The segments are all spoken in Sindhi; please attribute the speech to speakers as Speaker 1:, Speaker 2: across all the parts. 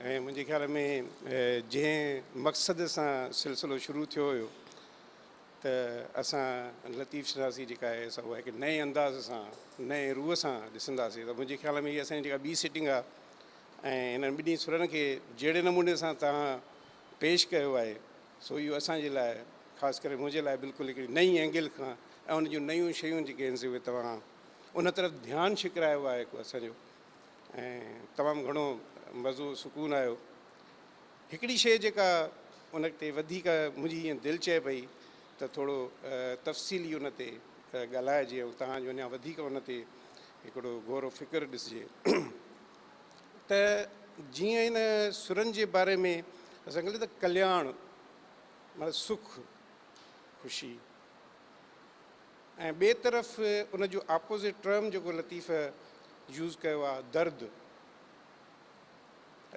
Speaker 1: ۽ منهنجي خيال ۾ جنهن مقصد سان سلسلو شروع ٿيو هيو ته اسان لطيف شناسي جيڪا آهي سا اها هڪ نئين انداز سان نئين روح سان ڏسنداسين ته منهنجي خيال ۾ هي اسان جي جيڪا ٻي سيٽنگ آهي ۽ هنن ٻنهي سرن کي جهڙي نموني سان توهان پيش ڪيو آهي سو اهو اسان جي لاء خاص ڪري منهنجي لاء بلڪل هڪڙي نئين اينگل کان ۽ ان جون نيون شيون جيڪي آهن سي اهي توهان ان طرف ڌيان ڇڪرايو آهي هڪ اسان جو ۽ تمام گهڻو مزو سڪون آيو هڪڙي شيء جيڪا ان تي وڌيڪ منهنجي ائين دل چئي پئي ته ٿورو تفصيلي ان تي ڳالهائجي ۽ توهان جو اڃا وڌيڪ ان تي هڪڙو غور و فڪر ڏسجي ته جيئن ان سرن جي باري ۾ اسان ڪلي ته ڪلياڻ مطلب سک خوشي ۽ ٻئي طرف ان جو اپوزٽ ٽرم جيڪو لطيف يوز ڪيو آ درد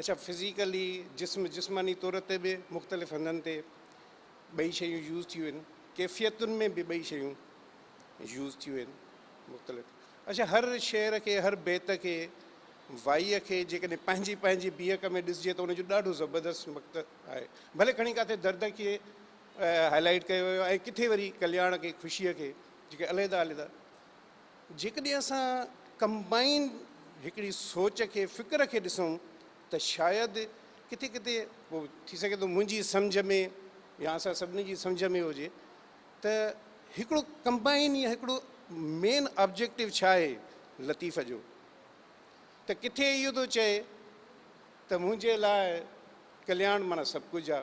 Speaker 1: اڇا فزيڪلي جسم جسماني طور تي به مختلف هنڌن تي ٻئي شيون يوز ٿيون آهن ڪيفيتن ۾ به ٻئي شيون يوز ٿيون آهن مختلف اڇا هر شعر کي هر بيت کي وائيء کي جيڪڏهن پنهنجي پنهنجي بيهڪ ۾ ڏسجي ته ان جو ڏاڍو زبردست مقت آهي ڀلي کڻي ڪاٿي درد کي هاء لائيٽ ڪيو ويو ۽ ڪٿي وري ڪلياڻ کي خوشيء کي جيڪي عليحده عليحده جيڪڏهن اسان ڪمبائين هڪڙي سوچ کي فڪر کي ڏسون ته شايد ڪٿي ڪٿي پو ٿي سگهي ٿو منهنجي سمجهه ۾ يا اسان سڀني جي سمجهه ۾ هجي ته هڪڙو ڪمبائين يا هڪڙو مين آبجيڪٽو ڇا آهي لطيف جو ته ڪٿي اهو ٿو چئي ته منهنجي لاء ڪلياڻ معنيٰ سڀ ڪجهه آ.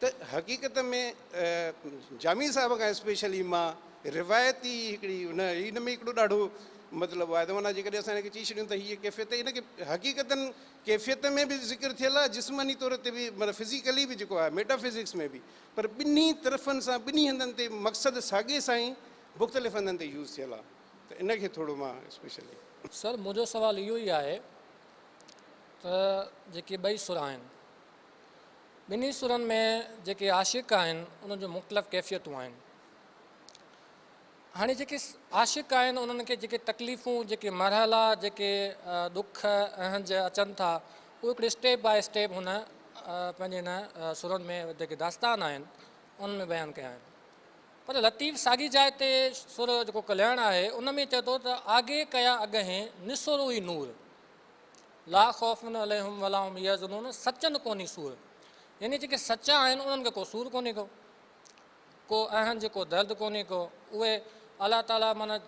Speaker 1: ته حقيقت ۾ جامي صاحب کان اسپيشلي مان روايتي هڪڙي ان ان ۾ هڪڙو ڏاڍو مطلب آهي ته معنيٰ جيڪڏهن اسان هن کي چئي ڇڏيون ته هيء ڪيفيت ان کي حقيقتاً ڪيفيت ۾ به ذڪر ٿيل آهي جسماني طور تي به معنيٰ فزيڪلي به جيڪو آهي ميٽا فزڪس ۾ به پر ٻنهي طرفن سان ٻنهي هنڌن تي مقصد ساڳي سائين مختلف هنڌن تي يوز ٿيل آهي ته ان کي ٿورو مان اسپيشلي سر منهنجو
Speaker 2: سوال اهو ئي آهي ته جيڪي ٻئي سر آهن. ٻنهي سرن ۾ جيڪي عاشق آهن انهن جون مختلف ڪيفيتون آهن. هاڻي جيڪي عاشق آهن انهن کي جيڪي تڪليفون جيڪي مرحلا جيڪي ڏک اهنج اچن ٿا اهي هڪڙي اسٽيپ باء اسٽيپ هن پنهنجي هن سرن ۾ جيڪي داستان آهن انهن ۾ بيان ڪيا آهن پر لطيف ساڳي جاء تي سر جيڪو ڪلياڻ آهي ان ۾ چئي ٿو ته آگي ڪيا اڳهين نسورو ئي نور لا خوف عليهم ولا هم يحزنون سچن ڪونهي سور يعني جيڪي سچا آهن انهن کي ڪو سور ڪونهي ڪو ڪو اهن جي ڪو درد ڪونهي ڪو اهي الله تعالي معنيٰ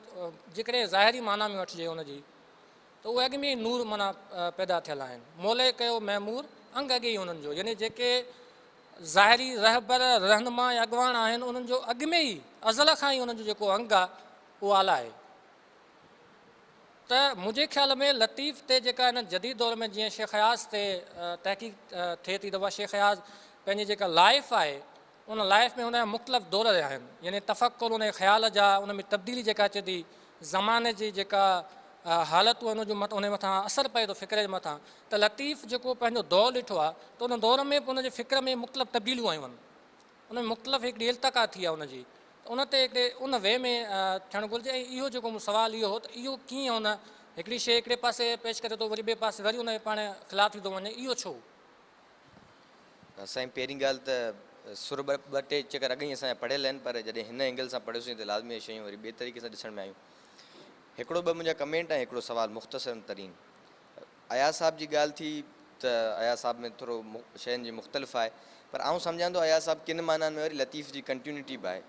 Speaker 2: جيڪڏهن ظاهري معنيٰ ۾ وٺجي ان جي ته اهي اڳ ۾ ئي نور معنيٰ پيدا ٿيل آهن مولئي ڪيو معمور انگ اڳي ئي انهن جو يعني جيڪي ظاهري رهبر رهنما يا اڳواڻ آهن انهن جو اڳ ۾ ئي ازل کان ئي انهن جو جيڪو انگ آهي اهو اعليٰ آهي ته منهنجي خيال ۾ لطيف تي جيڪا هن جديد دور ۾ جيئن شيخ اياز تي تحقيق ٿئي ٿي ته اها شيخ اياز پنهنجي جيڪا لائف آهي ان لائف ۾ ان جا مختلف دور رهيا آهن يعني تفڪر ان جي خيال جا ان ۾ تبديلي جيڪا اچي ٿي زماني جي جيڪا حالتون آهن ان جو ان مٿان اثر پئي ٿو فڪر جي مٿان ته لطيف جيڪو پنهنجو دور ڏٺو آهي ته ان دور ۾ به ان جي فڪر ۾ مختلف تبديليون آيون آهن ان ۾ مختلف هڪڙي التقا ٿي آ ان جي ته ان تي هڪڙي ان وي ۾ ٿيڻ گهرجي ۽ اهو جيڪو مون سوال اهو هو ته اهو ڪيئن ان هڪڙي شيء هڪڙي پاسي پيش ڪري ٿو وري ٻئي پاسي وري ان جي پاڻ خلاف ٿي ٿو وڃي اهو ڇو؟ سائين
Speaker 3: پهرين ڳالهه ته سر ٻه ٻه ٽي چڪر اڳ ئي اسان جا پڙهيل آهن پر جڏهن هن اينگل سان پڙهيوسين ته لازمي اهي شيون وري ٻئي طريقي سان ڏسڻ ۾ آيون. هڪڙو ٻه منهنجا ڪمينٽ ۽ هڪڙو سوال مختصرن ترين. اياز صاحب جي ڳالهه ٿي ته اياز صاحب ۾ ٿورو شين جي مختلف آهي پر آئون سمجهان ٿو اياز صاحب ڪن معنائن ۾ وري لطيف جي ڪنٽيونٽي به آهي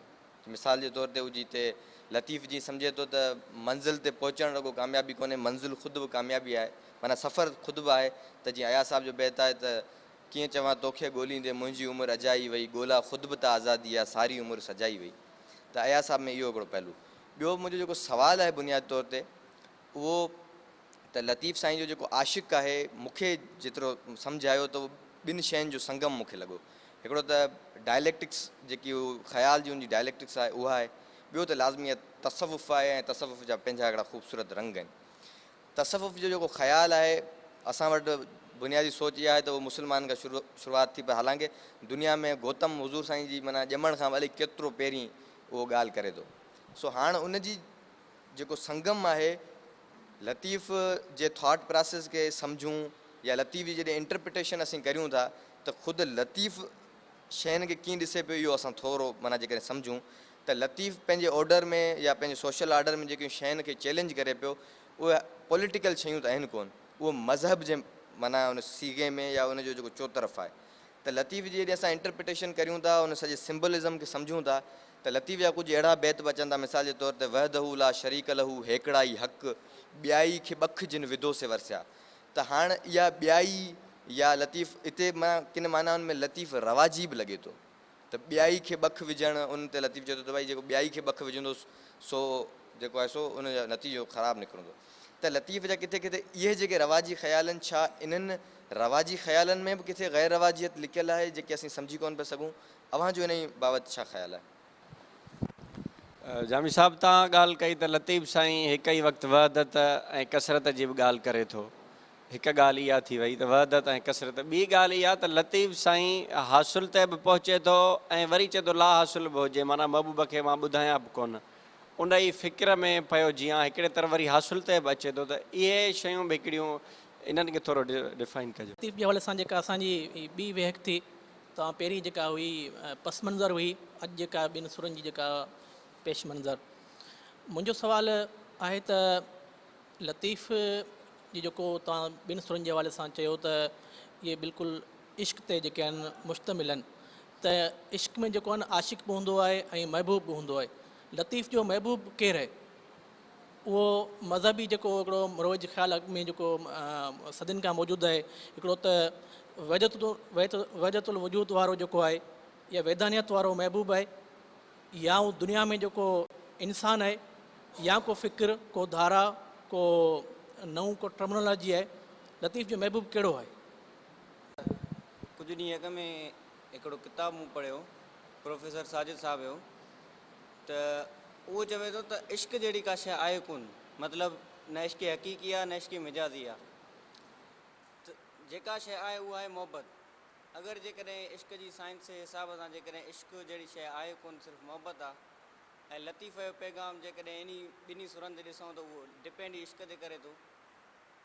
Speaker 3: مثال جي طور تي هو جتي لطيف جي سمجهي ٿو ته منزل تي پهچڻ رڳو ڪاميابي ڪونهي منزل خود به ڪاميابي آهي معنيٰ سفر خود به آهي ته جيئن اياز صاحب جو بيت آهي ته ڪيئن چوان توکي ڳوليندي منهنجي عمر اجائي وئي ڳولا خود به ته آزادي جا ساري عمر سجائي وئي ته اياز صاحب ۾ اهو هڪڙو پهلو ٻيو منهنجو جيڪو سوال آهي بنيادي طور تي اهو ته لطيف سائين جو جيڪو عاشق آهي، مون کي جيترو سمجهه آيو ته ٻن شين جو سنگم مون کي لڳو. هڪڙو ته ڊائليڪٽڪس جيڪي هو خيال جي ان جي ڊائليڪٽڪس آهي اها آهي، ٻيو ته لازمي تصوف آهي ۽ تصوف جا پنهنجا هڪڙا خوبصورت رنگ آهن. تصوف جو جيڪو خيال آهي اسان وٽ بنيادي سوچ اها آهي ته اهو مسلمانن کان شروعات ٿي پر حالانڪه دنيا ۾ گوتم حضور سائين جي معنيٰ ڄمڻ کان به الائي ڪيترو پهرين اهو ڳالهه ڪري ٿو. سو هاڻ ان جي جيڪو سنگم آهي لطيف جي ٿاٽ پراسيس کي سمجهون يا لطيف جي جڏهن انٽرپريٽيشن اسين ڪريون ٿا ته خود لطيف شين کي ڪيئن ڏسي پيو اهو اسان ٿورو معنيٰ جيڪڏهن سمجهون ته لطيف پنهنجي آرڊر ۾ يا پنهنجي سوشل آرڊر ۾ جيڪيون شين کي چئلينج ڪري پيو اهي پوليٽيڪل شيون ته آهن ڪونه اهو مذهب جي معنيٰ ان صيغي ۾ يا ان جو جيڪو چوطرف آهي ته لطيف جي جڏهن اسان انٽرپريٽيشن ڪريون ٿا ان سڄي سمبولزم کي سمجهون ٿا ته لطيف جا ڪجهه اهڙا بيت به اچن ٿا مثال جي طور تي وحده لا شريڪ له هيڪڙائي حق ٻيائي کي ٻک جن وڌو سي ورسيا ته هاڻ اها ٻيائي يا لطيف اتي ڪن معنائن ۾ لطيف رواجي به لڳي ٿو ته ٻيائي کي ٻک وجهڻ ان تي لطيف چئي ٿو ته ڀائي جيڪو ٻيائي کي ٻک وجهندو سو جيڪو آهي سو ان جو نتيجو خراب نڪرندو ته لطيف جا ڪٿي ڪٿي اهي جيڪي رواجي خيالن ڇا انهن رواجي خيالن ۾ به ڪٿي غير رواجيت لڪيل آهي جيڪي اسين سمجهي ڪونه پيا سگهون اوهان جو انهي بابت ڇا خيال آهي؟
Speaker 4: جامي صاحب تان ڳالهه ڪئي ته لطيف سائين هڪ ئي وقت وحدت ۽ ڪثرت جي به ڳالهه ڪري ٿو. هڪ ڳالهه اها ٿي وئي ته وحدت ۽ ڪثرت ٻي ڳالهه اها ته لطيف سائين حاصل تي به پهچي ٿو ۽ وري چئي ٿو لا حاصل به هجي معنيٰ محبوب کي مان ٻڌايان به ڪونه ان ئي فڪر ۾ پيو جيان هڪڙي طرف وري حاصل تي به اچي ٿو ته اهي شيون به هڪڙيون انهن کي ٿورو ڊفائن ڪجو. لطيف جي حوالي سان جيڪا اسان
Speaker 5: جي هي ٻي ويهڪ ٿي تان پهرين جيڪا هئي پس منظر هئي اڄ جيڪا ٻن سرن جي جيڪا پيش منظر منهنجو سوال آهي ته لطيف جي جيڪو تان ٻن سرن جي حوالي سان چيو ته اهي بلڪل عشق تي جيڪي آهن مشتمل آهن ته عشق ۾ جيڪو آهن عاشق به هوندو آهي ۽ محبوب به هوندو آهي لطيف جو محبوب ڪير آهي؟ اهو مذهبي جيڪو هڪڙو مروج خيال اڳ ۾ جيڪو صدين کان موجود آهي هڪڙو ته وحدت وحدت الوجود وارو جيڪو آهي يا ويدانيت وارو محبوب آهي يا هو دنيا ۾ جيڪو انسان آهي يا ڪو فڪر ڪو ڌارا ڪو نئون ڪو ٽرمنالاجي آهي لطيف جو محبوب ڪهڙو آهي؟
Speaker 6: ڪجهه ڏينهن اڳ ۾ هڪڙو ڪتاب مون پڙهيو پروفيسر ساجد صاحب جو ته اهو چوي ٿو ته عشق جهڙي ڪا شيء آهي ڪونه، مطلب نه عشق حقيقي آهي نه عشق مجازي آهي ته جيڪا شيء آهي اها آهي محبت، اگر جيڪڏهن عشق جي سائنس جي حساب سان جيڪڏهن عشق جهڙي شيء آهي ڪونه صرف محبت آهي ۽ لطيفه جو پيغام جيڪڏهن انهي ٻنهي سرن تي ڏسون ته اهو ڊپينڊ ئي عشق تي ڪري ٿو.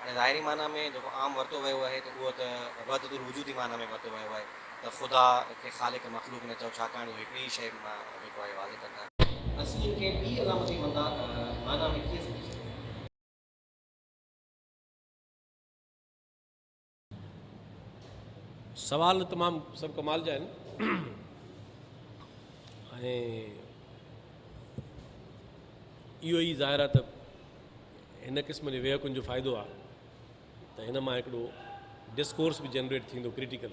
Speaker 7: هاڻي ظاهري معنيٰ ۾ جيڪو عام ورتو ويو آهي ته اهو ته وحدت الوجود جي معنيٰ ۾ ورتو ويو آهي ته خدا کي خالق مخلوق نه چئو ڇاڪاڻ جو هڪڙي ئي شيء مان جيڪو آهي واضح ڪندا آهن. اسين ان کي ٻي علامتي مندا معنيٰ ۾ ڪيئن سمجهي سگهندا؟
Speaker 8: سوال تمام سڀ ڪمال جا آهن اهو ئي ظاهر آهي ته هن قسم جي ويهڪن جو فائدو آهي ته هن مان هڪڙو ڊسڪورس به جنريٽ ٿيندو ڪريٽيڪل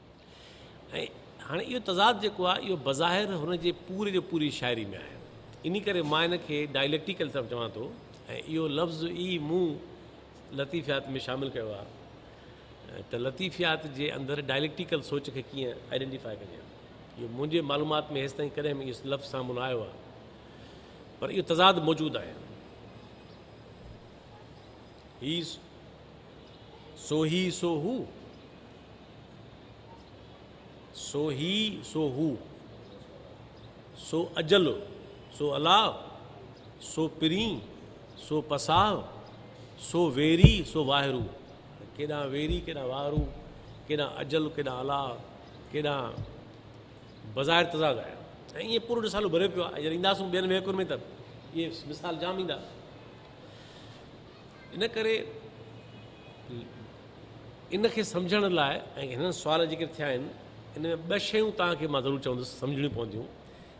Speaker 8: ۽ هاڻي اهو تضاد جيڪو آهي اهو بظاهر هن جي پوري جو پوري شاعري ۾ آهي انهي ڪري مان هن کي ڊائليڪٽيڪل سبب چوان ٿو ۽ اهو لفظ ئي مون لطيفيات ۾ شامل ڪيو آهي ته لطيفيات جي اندر ڊائليڪٽيڪل سوچ کي ڪيئن آئيڊينٽيفائي ڪجي اهو منهنجي معلومات ۾ هيستائين ڪڏهن به اهو لفظ سامهون نه آيو آهي پر اهو تضاد موجود آهي هي سو هي سو هو سو هي سو هو، سو اجل سو الاهه، سو پرين سو پساهه، سو ويري سو واهرو، ڪيڏانهن ويري ڪيڏانهن واهرو، ڪيڏانهن اجل ڪيڏانهن الاهه، ڪيڏانهن بظاهر تضاد آهي. ۽ ائين پورو رسالو ڀريو پيو آهي. جڏهن اينداسون ٻين وهڪرن ۾ ته اهي مثال جام ايندا. ان ڪري ان کي سمجهڻ لاء ۽ هنن سوال ذڪر ٿيا آهن ان ۾ ٻه شيون توهان کي مان ضرور چوندس سمجهڻيون پونديون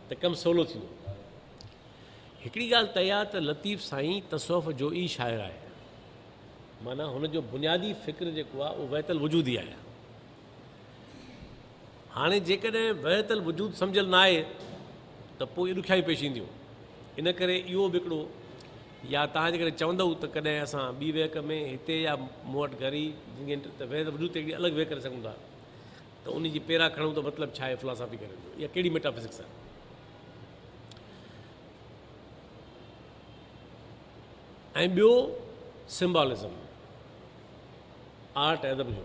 Speaker 8: ته ڪم سولو ٿيندو هڪڙي ڳالهه طئي آهي ته لطيف سائين تصوف جو ئي شاعر آهي معنيٰ هن جو بنيادي فڪر جيڪو آهي اهو ويت الوجودي آهي هاڻي جيڪڏهن وحدت الوجود سمجهيل نه آهي ته پوء ڏکيائيون پيش اينديون ان ڪري اهو به هڪڙو يا توهان جيڪڏهن چوندو ته ڪڏهن اسان ٻي ويهڪ ۾ هتي يا مون وٽ گهر ئي ته وحدت الوجود تي هڪڙي الڳ ويهڪ ڪري سگهون ٿا ته ان جي پيرا کڻون ته مطلب ڇا آهي فلاسافي ڪرڻ جو يا ڪهڙي ميٽافزڪس آهي ۽ ٻيو سمبالزم آرٽ ادب جو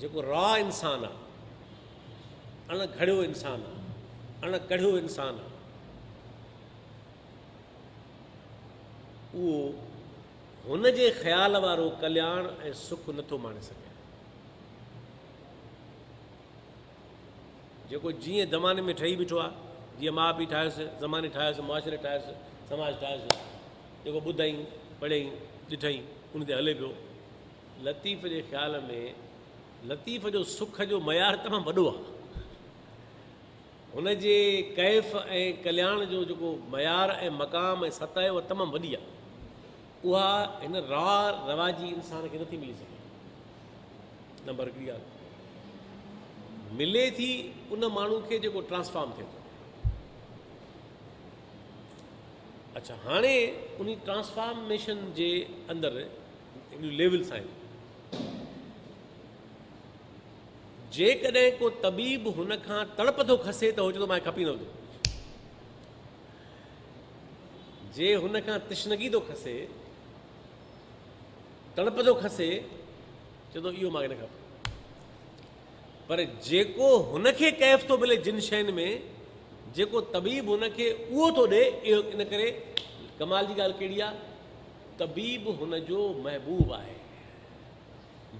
Speaker 8: جيڪو راء انسان آ، اڻ گهڙيو انسان آ، اڻ ڪڙهيو انسان آ، اهو هن جي خيال وارو ڪلياڻ ۽ سک نٿو ماڻي سگهي. جيڪو جيئن زماني ۾ ٺهي بيٺو آ، جيئن ماء پيء ٺاهيس، زماني ٺاهيس، معاشري ٺاهيس، سماج ٺاهيس، جيڪو ٻڌائين، پڙهيائين، ڏٺائين، ان تي هلي پيو. لطيف جي خيال ۾ لطيف جو سک جو معيار تمام وڏو آهي. هن جي ڪيف ۽ ڪلياڻ جو جيڪو معيار ۽ مقام ۽ سطح آهي اها تمام وڏي آهي. اها هن را رواجي انسان کي نٿي ملي سگهي. نمبر هڪڙي ڳالهه ملي ٿي ان ماڻهو کي جيڪو ٽرانسفارم ٿئي ٿو. اچھا هاڻي ان ٽرانسفارميشن جي اندر انهن ليولز آهن. جيڪڏهن ڪو طبيب هن کان تڙپندو کسي ته هو چوندو مان کپي نه هوندو. جي هن کان تشنگي ٿو کسي تڙپندو کسي چوندو اهو مان نه کپ. پر جيڪو هن کي ڪيف ٿو ملي جن شين ۾ جيڪو طبيب هن کي اهو ٿو ڏي اهو ان ڪري ڪمال جي ڳالهه ڪهڙي آ طبيب هن جو محبوب آهي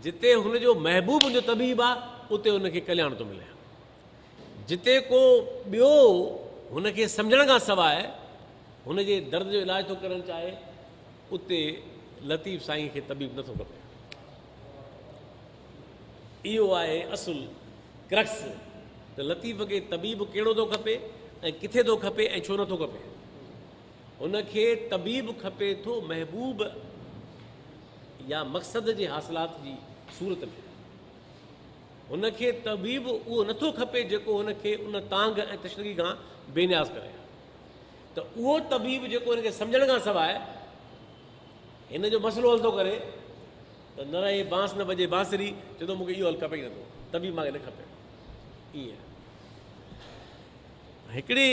Speaker 8: جتي هن جو محبوب هن جو طبيب آ اتي هن کي ڪلياڻ ٿو ملي جتي ڪو ٻيو هن کي سمجھڻ کان سواء هن جي درد جو علاج ٿو ڪرڻ چاهي اتي لطيف سائين کي طبيب نٿو کپي اهو آهي اصل، Crux، ته لطيف کي طبيب ڪهڙو ٿو کپي ۽ ڪٿي ٿو کپي ۽ ڇو نه ٿو کپي. هن کي طبيب کپي ٿو محبوب يا مقصد جي حاصلات جي صورت ۾. هن کي طبيب اهو نه ٿو کپي جيڪو هن کي ان تانگهه ۽ تشنگي کان بي نياز ڪري. ته اهو طبيب جيڪو هن کي سمجهڻ کان سواء هن جو مسئلو حل ٿو ڪري، ته نه رهي بانس نه بجي بانسري، چئي ٿو مون کي اهو حل کپي ئي نٿو، طبيب ماڳهين نه کپي. ائين هڪڙي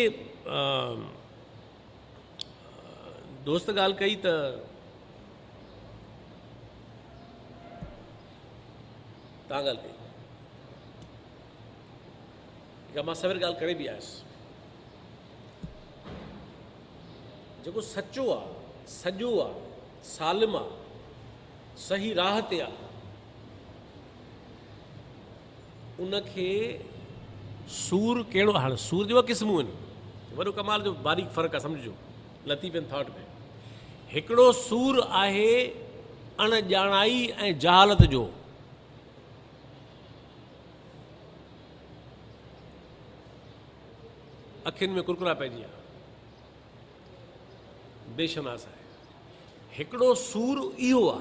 Speaker 8: دوست ڳالهه ڪئي ته تان ڳالهه ڪئي جا مان سوير ڳالهه ڪري به آيس جيڪو سچو آ سڄو آ سالم آ صحيح راھ تي آ ان کي سور ڪهڙو هاڻ سور جو قسمون آهن وڏو ڪمال جو باريڪ فرق آ سمجھجو لطيف ان ٿاٽ ۾ هڪڙو سور آهي اڻ ڄاڻائي ۽ جهالت جو اکين ۾ ڪرڪرا پئجي ويا بيشناس آهي. هڪڙو سور اهو آ.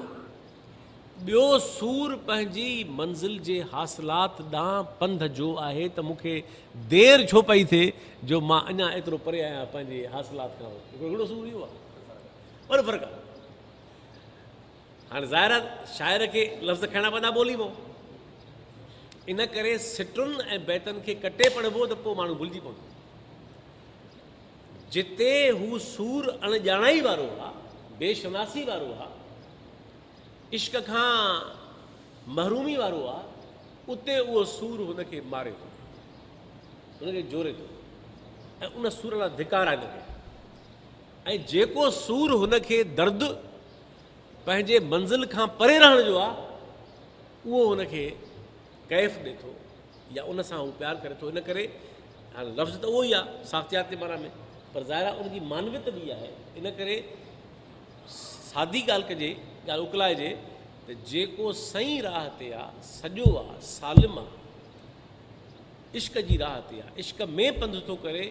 Speaker 8: ٻيو سور پنهنجي منزل جي حاصلات ڏانهن پنڌ جو آهي ته مون کي دير ڇو پئي ٿئي جو مان اڃا ايترو پري آهيان پنهنجي حاصلات کان هڪڙو سور اهو آ. وڏو فرق آ. هاڻي ظاهر شاعر کي لفظ کائڻا پوندا ٻولي مون ان ڪري سٽن ۽ بيتن کي ڪٽي پڙهبو ته پوء ماڻهو ڀلجي پوندو. جتي هو سور اڻ ڄاڻائي وارو ها، بي شناسي وارو ها، عشق کان محرومي وارو ها، اتي اهو سور هن کي ماري ٿو، هن کي جوري ٿو ۽ ان سور لاء ڌڪارائي ٿو ڪري ۽ جيڪو سور هن کي درد پنهنجي منزل کان پري رهڻ جو آ اهو هن کي ڪيف ڏي ٿو يا ان سان هو پيار ڪري ٿو ان ڪري هاڻي لفظ ته اهو ئي آهي ساختياتي معنيٰ ۾ پر ظاهر آهي ان جي معنويت ٻي آهي ان ڪري سادي ڳالهه ڪجي ڳالهه اڪلائجي ته جيڪو سئي راهه تي آ سڄو آ سالم آ عشق جي راهه تي آ عشق ۾ پنڌ ٿو ڪري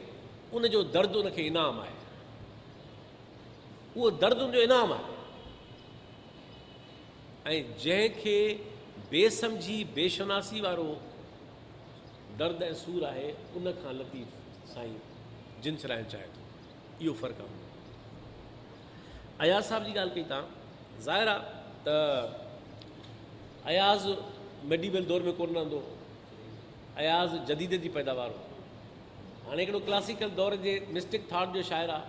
Speaker 8: ان جو درد ان کي انعام آهي اهو درد ان جو انعام آهي ۽ جنهن کي بي سمجهي بي شناسي وارو درد ۽ سور آهي ان کان لطيف سائين جن ڇڏائڻ چاهي ٿو اهو فرق آهي اياز صاحب جي ڳالهه ڪئي تان ظاهر آهي ته اياز ميڊيبل دور ۾ ڪون رهندو اياز جديد جي پيداوار هو هاڻي هڪڙو ڪلاسيڪل دور جي مسٽڪ ٿاٽ جو شاعر آهي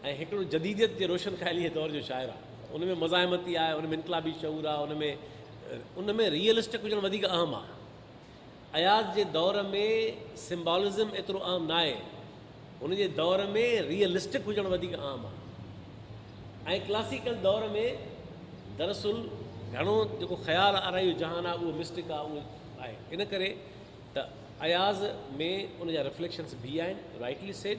Speaker 8: ۽ هڪڙو جديديت جي روشن خياليء جي دور جو شاعر آهي. ان ۾ مزاحمتي آهي، ان ۾ انقلابي شعور آهي، ان ۾ ان ۾ ريئلسٽڪ هجڻ وڌيڪ اهم آهي. اياز جي دور ۾ سمبالزم ايترو اهم ناهي، هن جي دور ۾ ريئلسٽڪ هجڻ وڌيڪ اهم آهي ۽ ڪلاسيڪل دور ۾ دراصل گهڻو جيڪو خيال آرائي جو جهان آهي اهو مسٽڪ آهي، اهو آهي ان ڪري ته اياز ۾ ان جا رفليڪشنس به آهن، رائٽلي سيڊ.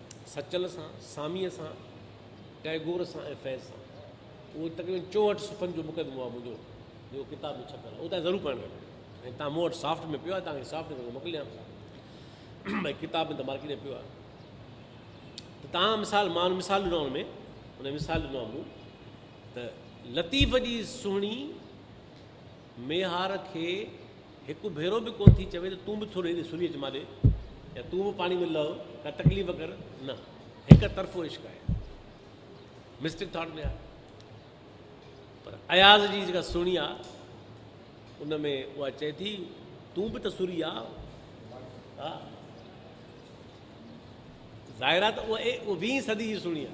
Speaker 8: سچل سان، ساميء سان، ٽئگور سان ۽ فيض سان. اهو تقريبن چوهٺ صفحن جو مقدمو آهي منهنجو، جيڪو ڪتاب ۾ ڇپيل آهي. اهو توهان ضرور پڙهڻ کپي ۽ تان مون وٽ سافٽ ۾ پيو آهي، توهان کي سافٽ ڪري موڪليان ٿو. ڀاء ڪتاب ۾ ته مارڪيٽ ۾ پيو آهي. ته تان مثال مان مثال ڏنو ان ۾ ان مثال ڏنو آهي مون ته لطيف جي سهڻي ميهار کي هڪ ڀيرو به ڪونه ٿي چوي ته تون به ٿورو هيڏي سنهي اچ مان ڏي يا تون به پاڻي ۾ لهه ڪا تڪليف ڪر نه هڪ طرفو عشق آهي مسٽڪ ٿاٽ ۾ آهي پر اياز جي جيڪا سهڻي آ ان ۾ اها چئي ٿي تون به ته سوري آ ها ظاهر آ ته اها ويهين صدي جي سهڻي آ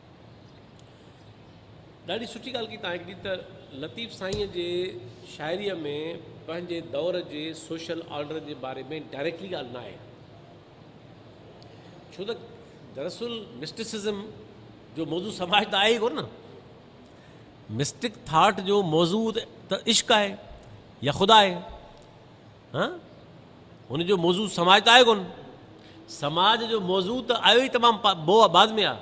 Speaker 8: ڏاڍي سٺي ڳالهه ڪئي تان هڪڙي ته لطيف سائين جي شاعري ۾ پنهنجي دور جي سوشل آرڊر جي باري ۾ ڊائريڪٽلي ڳالهه نه آهي ڇو ته دراصل مسٽسزم جو موضوع سماج ته آهي ڪون نه مسٽڪ ٿاٽ جو موضوع ته عشق آهي يا خدا آهي هان هن جو موضوع سماج ته آهي ڪون سماج جو موضوع ته آيو ئي تمام بو بعد ۾ آ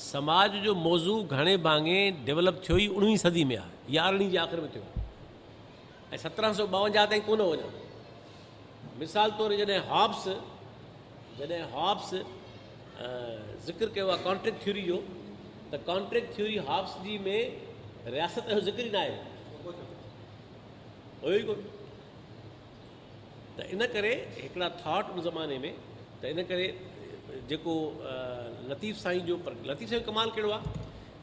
Speaker 8: سماج جو موضوع گهڻي ڀاڱي ڊيولپ ٿيو ئي اڻويهين صدي ۾ آ يا ارڙهين جي آخر ۾ ٿيو ۽ سترهن سو ٻاونجاهه تائين ڪونه وڃو مثال طور جڏهن هابس جڏهن هابس ذڪر ڪيو آ ڪانٽريڪٽ ٿيوري جو ته ڪانٽريڪٽ ٿيوري هابس جي ۾ رياست جو ذڪر ئي ناهي هيو ئي ڪونه ته ان ڪري هڪڙا ٿاٽ ان زماني ۾ ته ان ڪري جيڪو لطيف سائين جو پر لطيف سائين ڪمال ڪهڙو آ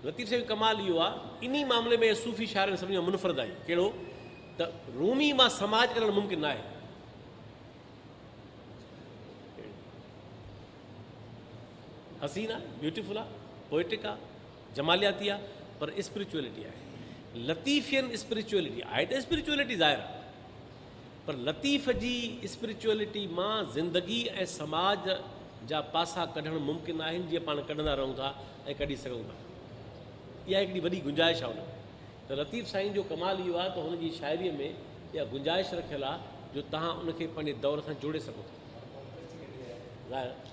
Speaker 8: لطيف سائين ڪمال اهو آ اني معاملي ۾ صوفي شاعرن سڀني کان منفرد آهي ڪهڙو ته رومي مان سماج ڪرڻ ممڪن ناهي حسين آ بيوٽيفل آ پوئٽڪ آ جمالياتي آ پر اسپريچوئلٽي آهي لطيفين اسپريچوئلٽي آهي ته اسپريچوئلٽي ظاهر آ پر لطيف جي اسپريچوئلٽي مان زندگي ۽ سماج جا پاسا ڪڍڻ ممڪن آهن جيئن پاڻ ڪڍندا رهون ٿا ۽ ڪڍي سگهون ٿا اها هڪڙي وڏي گنجائش آ ان ۾ ته لطيف سائين جو ڪمال اهو آ ته هن جي شاعري ۾ اها گنجائش رکيل آ جو تهان ان کي پنهنجي دور سان جوڙي سگهو ٿا ظاهر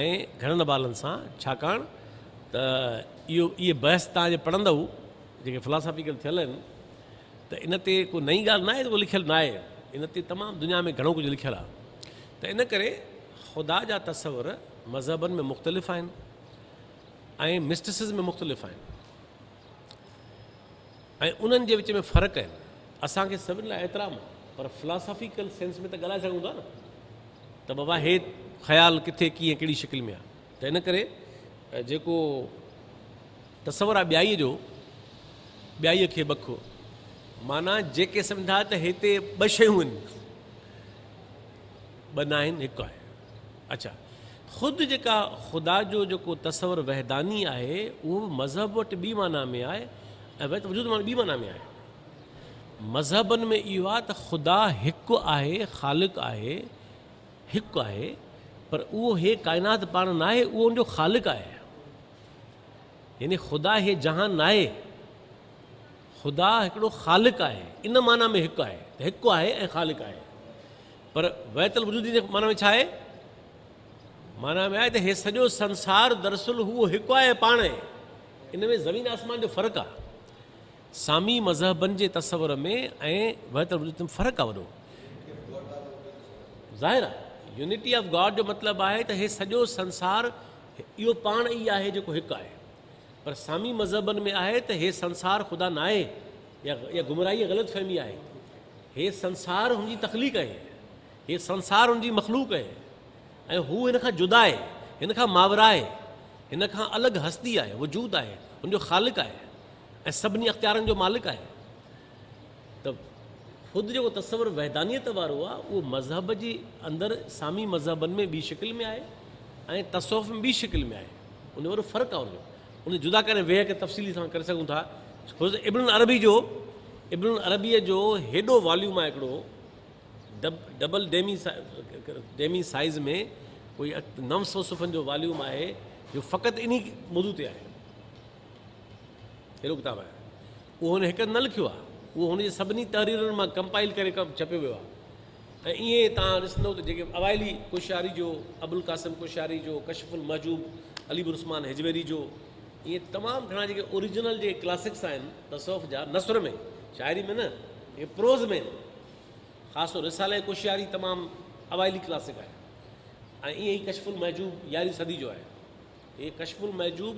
Speaker 8: ۽ گهڻن حوالن سان ڇاڪاڻ ته اهو اهي بحث توهان جي پڙهندؤ جيڪي فلاسافيڪل ٿيل آهن ته ان تي ڪو نئين ڳالهه ناهي جيڪو لکيل ناهي ان تي تمام دنيا ۾ گهڻو ڪجهه لکيل آهي ته ان ڪري خدا جا تصور مذهبن ۾ مختلف آهن ۽ مسٽسز ۾ مختلف آهن. ۽ انهن جي وچ ۾ فرق آهن. اسان کي سڀن لاء احترام آهي پر فلاسافيڪل سينس ۾ ته ڳالهائي سگهون ٿا نه ته بابا هي خيال ڪٿي ڪيئن ڪهڙي شڪل ۾ آهي ته ان ڪري جيڪو تصور آهي ٻيائي جو ٻيائي کي بک معنيٰ جيڪي سمجهندا ته هتي ٻه شيون آهن ٻه ناهن هڪ آهي. اڇا خود جيڪا خدا جو جيڪو تصور وحداني آهي اهو به مذهب وٽ ٻي معنيٰ ۾ آهي ۽ وحدت وجود مان ٻي معنيٰ ۾ آهي. مذهبن ۾ اهو آهي ته خدا هڪ آهي خالق آهي هڪ آهي پر اهو هي ڪائنات پاڻ ناهي اهو ان جو خالق آهي يعني خدا هي جهان ناهي خدا هڪڙو خالق آهي ان معنيٰ ۾ هڪ آهي ته هڪ آهي ۽ خالق آهي. پر وحدت الوجودي جي معنيٰ ۾ ڇا آهي؟ معنيٰ ۾ آهي ته هي سڄو سنسار دراصل هو هڪ آهي ۽ پاڻ آهي. ان ۾ زمين آسمان جو فرق آهي. سامي مذهبن جي تصور ۾ ۽ وحدت الوجودي ۾ فرق آهي وڏو. ظاهر آهي يونٽي آف گاڊ جو مطلب آهي ته هي سڄو سنسار اهو پاڻ ئي آهي جيڪو هڪ آهي. پر سامي مذهبن ۾ آهي ته هي سنسار خدا ناهي. اها گمراهي ۽ غلط فهمي آهي. هي سنسار هن جي تخليق آهي. هي سنسار هن جي مخلوق آهي ۽ هو هن کان جدا آهي، هن کان ماوراء آهي، هن کان الڳ هستي آهي، وجود آهي، هن جو خالق آهي ۽ سڀني اختيارن جو مالڪ آهي. ته خود جيڪو تصور وحدانيت وارو آهي، اهو مذهب جي اندر سامي مذهبن ۾ ٻي شڪل ۾ آهي ۽ تصوف ۾ ٻي شڪل ۾ آهي. ان وارو فرق آهي ان جو. ان کي جدا ڪري ويهه کي تفصيلي سان ڪري سگهون ٿا. حضرت ابن العربي جو ابن العربيء جو هيڏو واليوم آهي هڪڙو ڊبل ڊيمي ڊيمي سائيز ۾ ڪوئي نو سو صفحن جو واليوم آهي جو فقط انهي موضوع تي آهي هيڏو ڪتاب آهي اهو هن هڪ نه لکيو آهي اهو هن جي سڀني تحريرن مان ڪمپائل ڪري ڪم ڇپيو ويو آهي ۽ ائين توهان ڏسندؤ ته جيڪي اوائلي ڪوشاري جو، ابوالقاسم ڪوشاري جو، ڪشف المحجوب، علي بن عثمان هجويري جو، ائين تمام گهڻا جيڪي اوريجنل جيڪي ڪلاسڪس آهن تصوف جا، نثر ۾، شاعري ۾ نه، جيڪي پروز ۾ آهن، خاص طور رساله ڪوشاري تمام اوائلي ڪلاسڪ آهي ۽ ائين ئي ڪشف المحجوب يارهين صدي جو آهي. هي ڪشف المحجوب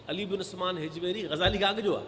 Speaker 8: علي بن عثمان هجويري غزالي کان اڳ جو آهي.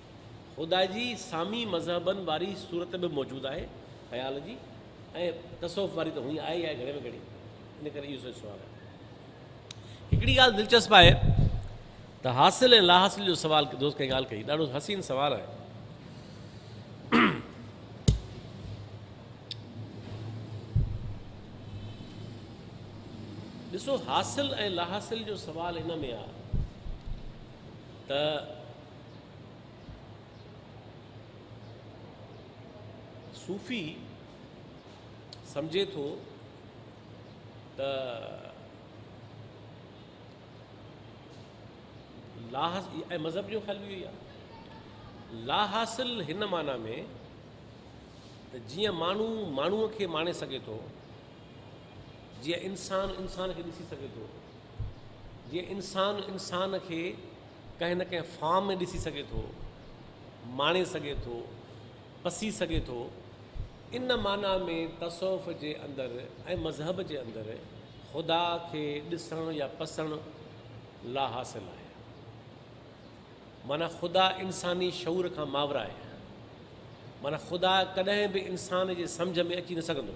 Speaker 8: خدا جي سامي مذهبن واري صورت به موجود آهي خيال جي ۽ تصوف واري ته هونئين آهي ئي آهي گهڻي ۾ گهڻي ان ڪري اهو سائين سوال آهي هڪڙي ڳالهه دلچسپ آهي ته حاصل ۽ لا حاصل جو سوال دوست ڪنهن ڳالهه ڪئي ڏاڍو حسين سوال آهي ڏسو حاصل ۽ لا حاصل جو سوال ان ۾ آهي ته صوفي سمجهي ٿو ته ۽ مذهب جو خيال بي آهي لا حاصل هن معنی ۾ ته جيئن ماڻهو ماڻهوء کي ماڻي سگهي ٿو جيئن انسان انسان کي ڏسي سگهي ٿو جيئن انسان انسان کي ڪنهن نه ڪنهن فارم ۾ ڏسي سگهي ٿو، ماڻي سگهي ٿو، پسي سگهي ٿو. ان معنيٰ ۾ تصوف جي اندر ۽ مذهب جي اندر خدا کي ڏسڻ يا پسڻ لاحاصل آهي. معنيٰ خدا انساني شعور کان ماورا آهي. معنيٰ خدا ڪڏهن به انسان جي سمجهه ۾ اچي نه سگهندو.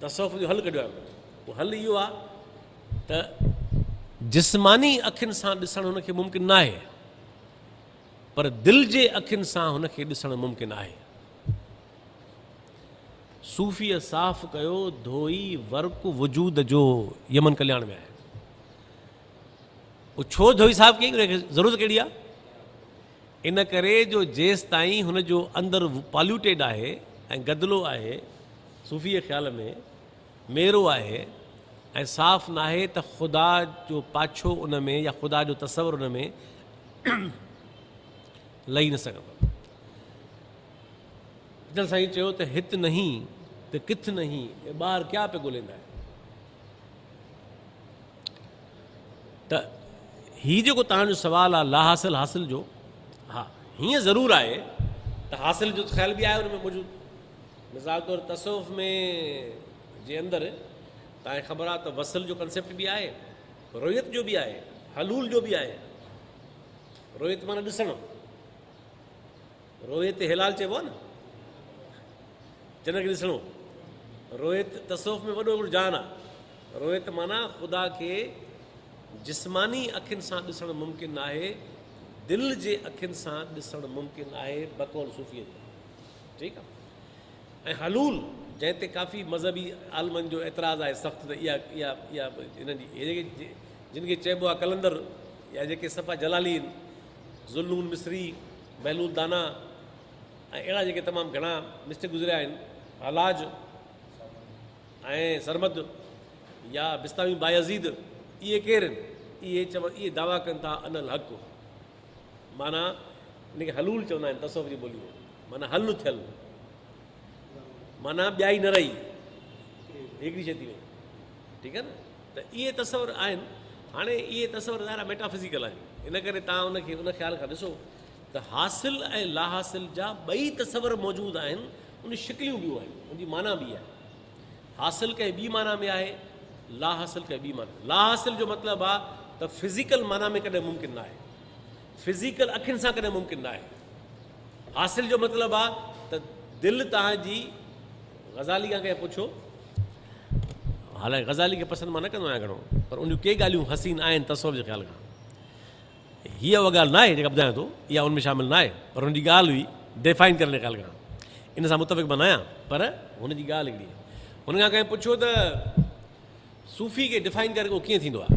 Speaker 8: تصوف اهو حل ڪڍيو آهي. اهو حل اهو آهي ته جسماني اکين سان ڏسڻ هن کي ممڪن ناهي پر دل جي اکين سان هن کي ڏسڻ ممڪن آهي. صوفيء صاف ڪيو ڌوئي ورق وجود جو يمن ڪلياڻ ۾ آهي. اهو ڇو ڌوئي صاف ڪيائين ان کي ضرورت ڪهڙي آهي؟ ان ڪري جو جيستائين هن جو اندر پاليوٽيڊ آهي ۽ گدلو آهي، صوفيء خيال ۾ ميرو آهي ۽ صاف ناهي ته خدا جو پاڇو ان ۾ يا خدا جو تصور ان ۾ لهي نه سگهندو. اچل سائين چيو ته هت نهين ته ڪٿ نهين، اي ٻار ڪيا پئي ڳوليندا آهيو. ته هي جيڪو توهان جو سوال آهي لا حاصل حاصل جو ها هيئن ضرور آهي ته حاصل جو خيال به آهي ان ۾ موجود مثال طور تصوف ۾ جي اندر تاکي خبر آهي ته وصل جو ڪنسيپٽ به آهي رويت جو به آهي حلول جو به آهي رويت مانا ڏسڻ رويت هلال چئبو آهي نه جنھن کي ڏسڻو رويت تصوف ۾ وڏو هڪڙو جان آهي رويت معنيٰ خدا کي جسماني اکين سان ڏسڻ ممڪن ناهي دل جي اکين سان ڏسڻ ممڪن آهي بقول صوفي جي ٺيڪ آهي ۽ حلول جنهن تي ڪافي مذهبي عالمن جو اعتراض آهي سخت ته اها اها اها هنن جي جن کي چئبو آهي قلندر يا جيڪي صفا جلالي ذلون مصري محلول دانه ۽ اهڙا جيڪي تمام گهڻا مسٽ گذريا آهن، حلاج ۽ سرمد يا بسطامي بايزيد، اهي ڪير آهن؟ اهي چون اهي دعويٰ ڪن ٿا انا الحق معنيٰ ان کي حلول چوندا آهن تصوف جي ٻوليء ۾ معنيٰ حل ٿيل معنيٰ ٻيائي نه رهي هڪڙي شيء ٿي وئي ٺيڪ آهي نه. ته اهي تصور آهن. هاڻي اهي تصور ظاهرا ميٽافزيڪل آهن، ان ڪري توهان ان کي ان خيال کان ڏسو ته حاصل ۽ لاحاصل جا ٻئي تصور موجود آهن، ان شڪليون ٻيون آهن، ان جي معنيٰ ٻي آهي. حاصل ڪنهن ٻي معنيٰ ۾ آهي، لاحاصل ڪنهن ٻي معنيٰ. لاحاصل جو مطلب آهي ته فزيڪل معنيٰ ۾ ڪڏهن ممڪن نه آهي، فزيڪل اکين سان ڪڏهن ممڪن نه آهي، حاصل جو مطلب آ ته دل تان جي غزالي کان ڪنهن پڇو حالانڪه غزالي کي پسند مان نه ڪندو آهيان گهڻو پر ان جون ڪي ڳالهيون حسين آهن تصور جي خيال کان هي اها ڳالهه ناهي جيڪا ٻڌايان ٿو اها ان ۾ شامل ناهي پر هن جي ڳالهه هئي ڊيفائن ڪرڻ جي خيال کان ان سان متفق مان ناهيان پر هن جي ڳالهه هڪڙي هن کان ڪنهن پڇيو ته صوفي کي ڊيفائن ڪري ڪو ڪيئن ٿيندو آهي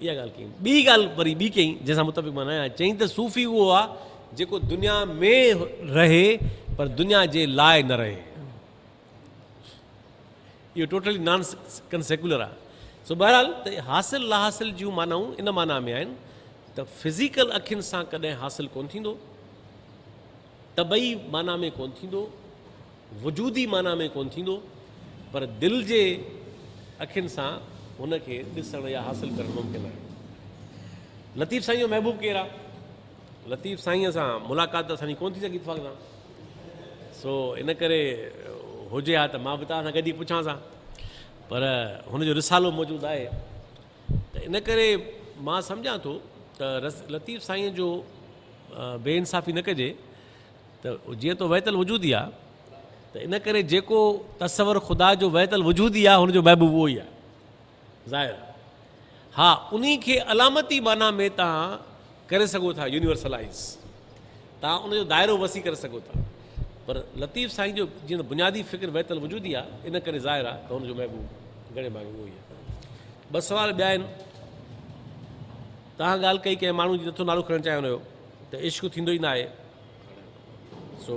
Speaker 8: اها ڳالهه ڪيائين. ٻي ڳالهه وري ٻي ڪيائين، جنهن سان متفق مان نه آهيان. چيائين ته صوفي اهو آهي، جيڪو دنيا ۾ رهي پر دنيا جي لاء نه رهي. اهو ٽوٽلي نان ڪن سيڪولر آهي. سو بهرحال ته حاصل لاحاصل جون معنائون ان معنيٰ ۾ آهن ته فزيڪل اکين سان ڪڏهن حاصل ڪونه ٿيندو، طبعي معنيٰ ۾ ڪونه ٿيندو، وجودي معنيٰ ۾ ڪونه ٿيندو، پر دل جي اکين سان هن کي ڏسڻ يا حاصل ڪرڻ ممڪن آهي. لطيف سائينء جو محبوب ڪير آهي؟ لطيف سائينء سان ملاقات ته اسان جي ڪونه ٿي سگهي اتفاق سان، سو ان ڪري هجي ها ته مان به توهان سان گڏ ئي پڇانس ها، پر هن جو رسالو موجود آهي، ته ان ڪري مان سمجهان ٿو ته لطيف سائين جو بي انصافي نه ڪجي ته جيئن تو ويتل وجود ئي آ ته ان ڪري جيڪو تصور خدا جو ويتل وجود ئي آ هن جو محبوب اهو ئي آ ظاهر ها انهي کي علامتي معنيٰ ۾ تان ڪري سگهو ٿا يونيورسلائيز تان ان جو دائرو وسيع ڪري سگهو ٿا پر لطيف سائين جو جيئن بنيادي فڪر وحدت الوجودي آ ان ڪري ظاهر آ ته هن جو محبوب گهڻي ڀاڱي اهو ئي آ ٻه سوال ٻيا آهن تان ڳالهه ڪئي ڪنهن ماڻهو جي نٿو نالو کڻڻ چاهيان هيو ته عشق ٿيندو ئي ناهي سو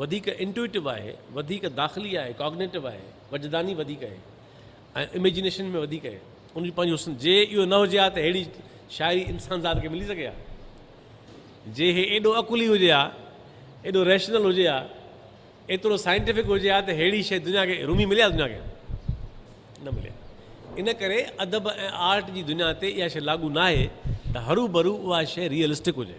Speaker 8: وڌيڪ انٽوئيٽو آهي، وڌيڪ داخلي آهي، ڪاگنيٽو آهي، وجداني وڌيڪ آهي ۽ اميجنيشن ۾ وڌيڪ آهي، ان جو پنهنجو حسن. جي اهو نه هجي ها ته ههڙي شاعري انسانذات کي ملي سگهي ها؟ جي هي ايڏو عقلي هجي ها، ايڏو ريشنل هجي ها، ايترو سائنٽيفڪ هجي ها ته ههڙي شيء دنيا کي رومي ملي ها دنيا کي؟ نه ملي ها. ان ڪري ادب ۽ آرٽ جي دنيا تي اها شيء لاڳو ناهي ته هروڀرو اها شيء ريئلسٽڪ هجي.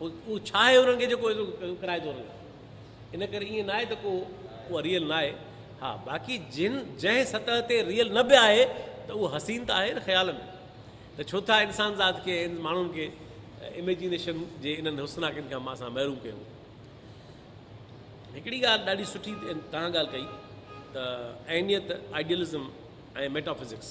Speaker 8: اهو ڇا آهي انهن کي جيڪو ايترو ڪرائي ٿو رنگ ان ڪري ائين ناهي ته ڪو اها ريئل ناهي ها باقي جن جنهن سطح تي ريئل نه به آهي ته اهو حسين ته آهي نه خيال ۾ ته ڇو ٿا انسان ذات کي ماڻهن کي اميجينيشن جي انهن حسناڪين کان اسان محروم ڪيون هڪڙي ڳالهه ڏاڍي سٺي توهان ڳالهه ڪئي ته اهميت آئيڊيلزم ۽ ميٽافزڪس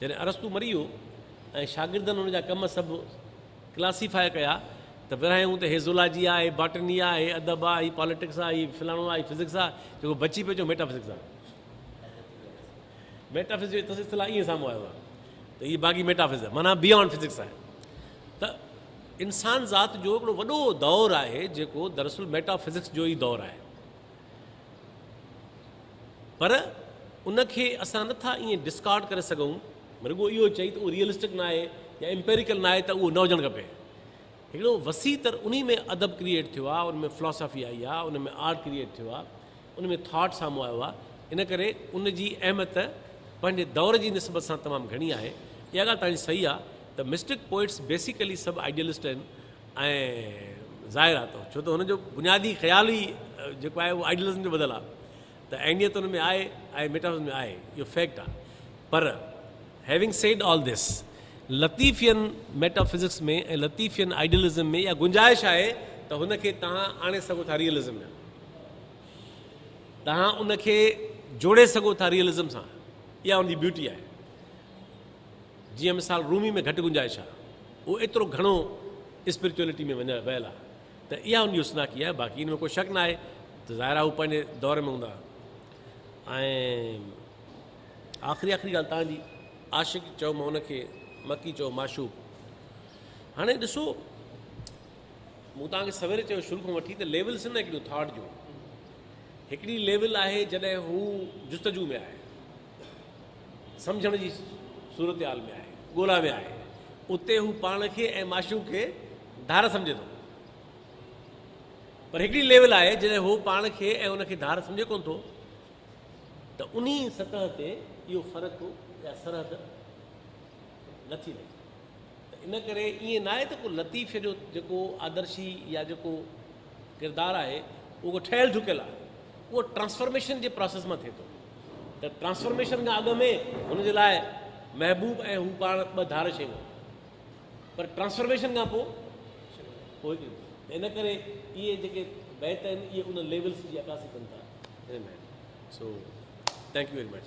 Speaker 8: جڏهن ارسطو مري ويو ۽ شاگردن هن جا ڪم سڀ ڪلاسيفاء ڪيا ته ورهايائون ته هي زولاجي آ، هي باٽني آ، هي ادب آ، هي پاليٽڪس آ، هي فلاڻو آ، هي فزڪس آ، جيڪو بچي پيو چيو ميٽافزڪس آ. ميٽافزڪس جو اتص اصطلاح ائين سامهون آيو آ ته هي باغي ميٽافز آ، معنيٰ بيانڊ فزڪس آهي. ته انسان ذات جو هڪڙو وڏو دور آهي جيڪو دراصل ميٽافزڪس جو ئي دور آهي. پر ان کي اسان نه ٿا ائين ڊسڪارڊ ڪري سگهون رڳو اهو چئي ته اهو ريئلسٽڪ نه آهي يا امپيريڪل نه آهي ته اهو نه هجڻ کپي هڪڙو وسيع تر انهي ۾ ادب ڪريئيٽ ٿيو آهي ان ۾ فلاسافي آئي آهي ان ۾ آرٽ ڪريئيٽ ٿيو آهي ان ۾ ٿاٽ سامهون آيو آهي ان ڪري ان جي اهميت پنهنجي دور جي نسبت سان تمام گهڻي آهي اها ڳالهه تنهنجي صحيح آهي ته مسٽڪ پوئٽس بيسيڪلي سڀ آئيڊيلسٽ آهن ۽ ظاهر آهي ته ڇو ته هن جو بنيادي خيال ئي جيڪو آهي اهو آئيڊيلزم جو ٻڌل آهي ته عينيت ان ۾ آهي آهي ميٽافزڪس ۾ آهي اهو فيڪٽ آهي پر هيونگ سيڊ آل ڌس لطيفين ميٽافزڪس ۾ ۽ لطيفين آئيڊيلزم ۾ اها گنجائش آهي ته هن کي توهان آڻي سگهو ٿا ريئلزم ۾ توهان ان کي جوڙي سگهو ٿا ريئلزم سان اها ان جي بيوٽي آهي جيئن مثال رومي ۾ گهٽ گنجائش آ اهو ايترو گهڻو اسپريچوئلٽي ۾ وڃايل ويل آ ته اها ان جي حسناڪي آهي باقي ان ۾ ڪو شڪ ناهي ته ظاهر آ هو پنهنجي دور ۾ هوندا ۽ آخري آخري ڳالهه تان جي عاشق چئو مان ان کي مڪي چئو معشوق هاڻي ڏسو مون تان کي سوير چيو شروع کان وٺي ته ليولس نه هڪڙيون ٿاٽ جون هڪڙي ليول آهي جڏهن هو جستجو ۾ آهي سمجهڻ جي صورتحال ۾ آهي، ڳولا ۾ آهي، اتي هو پاڻ کي ۽ معشوق کي ڌار سمجهي ٿو. پر هڪڙي ليول آهي جڏهن هو پاڻ کي ۽ ان کي ڌار سمجهي ڪونه ٿو ته انهي سطح تي اهو فرق يا سرحد نه ٿي رهي. ته ان ڪري ائين ناهي ته ڪو لطيف جو جيڪو آدرشي يا جيڪو ڪردار آهي اهو ٺهيل ٺڪيل آهي اهو ٽرانسفارميشن جي پروسيس مان ٿئي ٿو ته ٽرانسفارميشن کان اڳ ۾ هن جي لاء محبوب ۽ هو پاڻ ٻه ڌار شيون پر ٽرانسفارميشن کان پوء ان ڪري اهي جيڪي بيت آهن اهي ان ليولس جي عڪاسي ڪن ٿا سو ٿينڪ يو ويري مچ